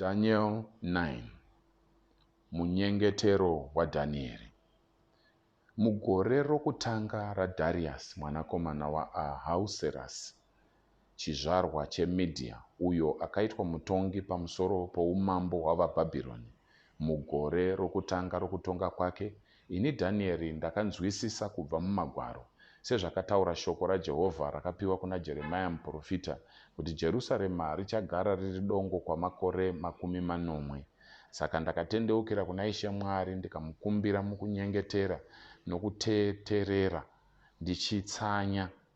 Daniel 9 Munyengetero waDhanieri Mugore rokutanga raDhariasi mwanakomana waAhauserasi, chizvarwa cheMedhia, uyo akaitwa mutongi pamusoro poumambo hwavaBhabhironi, Mugore rokutanga rokutonga kwake, ini Dhanieri ndakanzwisisa kubva muMagwaro, sezvakataura shoko raJehovha rakapiwa kuna Jeremia muprofita, kuti Jerusarema richagara riri dongo kwamakore makumi manomwe. Saka ndakatendeukira kuna Ishe Mwari ndikamukumbira mukunyengetera nokuteterera, ndichitsanya.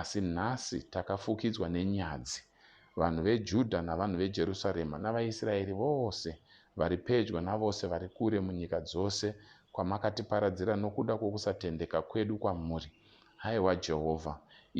Asi nhasi takafukidzwa nenyadzi, vanhu veJudha navanhu veJerusarema navaIsraeri vose, vari pedyo navose vari kure munyika dzose kwamakatiparadzira nokuda kwokusatendeka kwedu kwamuri. Haiwa Jehovha,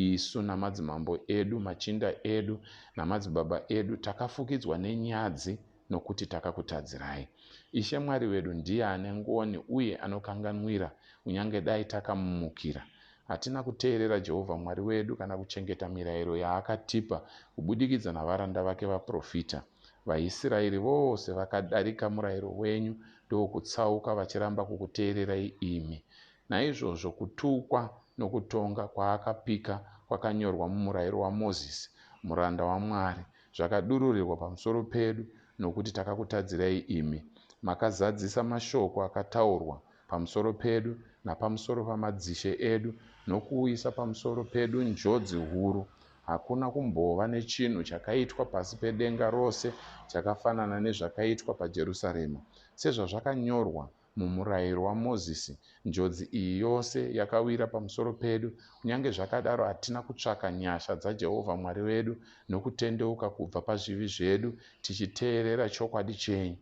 isu namadzimambo edu, machinda edu namadzibaba edu takafukidzwa nenyadzi, nokuti takakutadzirai. Ishe Mwari wedu ndiye ane ngoni uye anokanganwira, kunyange dai takamumukira. Hatina kuteerera Jehovha Mwari wedu kana kuchengeta mirayiro yaakatipa kubudikidza navaranda vake vaprofita. VaIsraeri vose vakadarika murayiro wenyu ndokutsauka vachiramba kukuteererai imi. Naizvozvo kutukwa nokutonga kwaakapika kwakanyorwa mumurayiro waMozisi, muranda waMwari, zvakadururirwa pamusoro pedu nokuti takakutadzirai imi. Makazadzisa mashoko akataurwa pamusoro pedu napamusoro pamadzishe edu nokuuyisa pamusoro pedu njodzi huru. Hakuna kumbova nechinhu chakaitwa pasi pedenga rose chakafanana nezvakaitwa paJerusarema, sezvazvakanyorwa MuMurayiro waMozisi, njodzi iyi yose yakawira pamusoro pedu. Kunyange zvakadaro, hatina kutsvaka nyasha dzaJehovha Mwari wedu nokutendeuka kubva pazvivi zvedu tichiteerera chokwadi chenyu.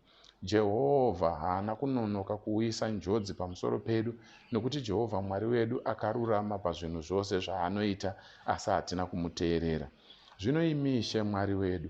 Jehovha haana kunonoka kuuyisa njodzi pamusoro pedu nokuti Jehovha Mwari wedu akarurama pazvinhu zvose zvaanoita, asi hatina kumuteerera. Zvino imi Ishe Mwari wedu,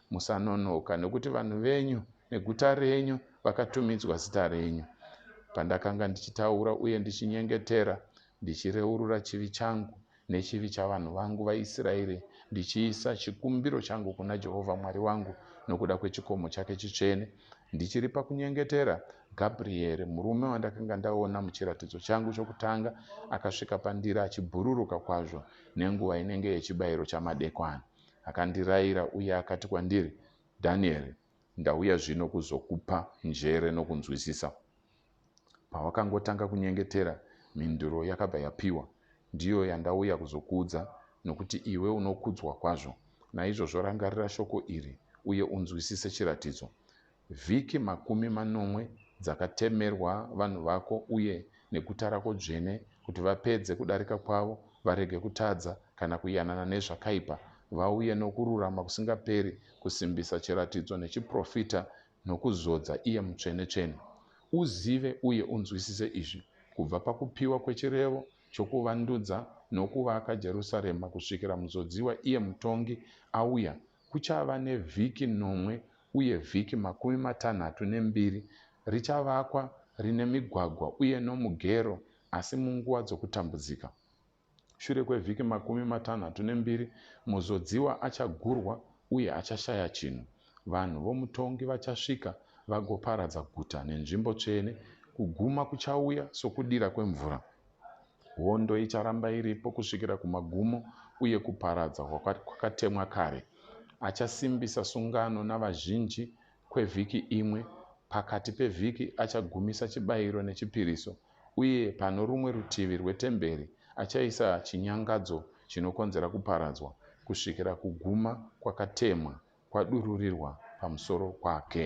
Musanonoka, nokuti vanhu venyu neguta renyu vakatumidzwa zita renyu. Pandakanga ndichitaura uye ndichinyengetera, ndichireurura chivi changu nechivi chavanhu vangu vaIsraeri, ndichiisa chikumbiro changu kuna Jehovha Mwari wangu nokuda kwechikomo chake chitsvene, ndichiri pakunyengetera, Gabrieri, murume wandakanga ndaona muchiratidzo changu chokutanga, akasvika pandiri achibhururuka kwazvo nenguva inenge yechibayiro chamadekwani. Akandirayira uye akati kwandiri, Danieri, ndauya zvino kuzokupa njere nokunzwisisa. Pawakangotanga kunyengetera, mhinduro yakabva yapiwa. Ndiyo yandauya kuzokuudza, nokuti iwe unokudzwa kwazvo. Naizvozvo rangarira shoko iri uye unzwisise chiratidzo. Vhiki makumi manomwe dzakatemerwa vanhu vako uye neguta rako dzvene, kuti vapedze kudarika kwavo, varege kutadza, kana kuyanana nezvakaipa, vauye nokururama kusingaperi, kusimbisa chiratidzo nechiprofita, nokuzodza iye Mutsvenetsvene. Uzive uye unzwisise izvi, kubva pakupiwa kwechirevo chokuvandudza nokuvaka Jerusarema kusvikira Muzodziwa iye Mutongi auya, Kuchava nevhiki nomwe uye vhiki makumi matanhatu nembiri richavakwa rine migwagwa uye nomugero asi munguva dzokutambudzika. Shure kwevhiki makumi matanhatu nembiri muzodziwa achagurwa uye achashaya chinhu. Vanhu vomutongi vachasvika vagoparadza guta nenzvimbo tsvene. Kuguma kuchauya sokudira kwemvura. Hondo icharamba iripo kusvikira kumagumo uye kuparadza kwakatemwa kare. Achasimbisa sungano navazhinji kwevhiki imwe. Pakati pevhiki achagumisa chibayiro nechipiriso, uye pano rumwe rutivi rwetemberi achaisa chinyangadzo chinokonzera kuparadzwa kusvikira kuguma kwakatemwa kwadururirwa pamusoro kwake.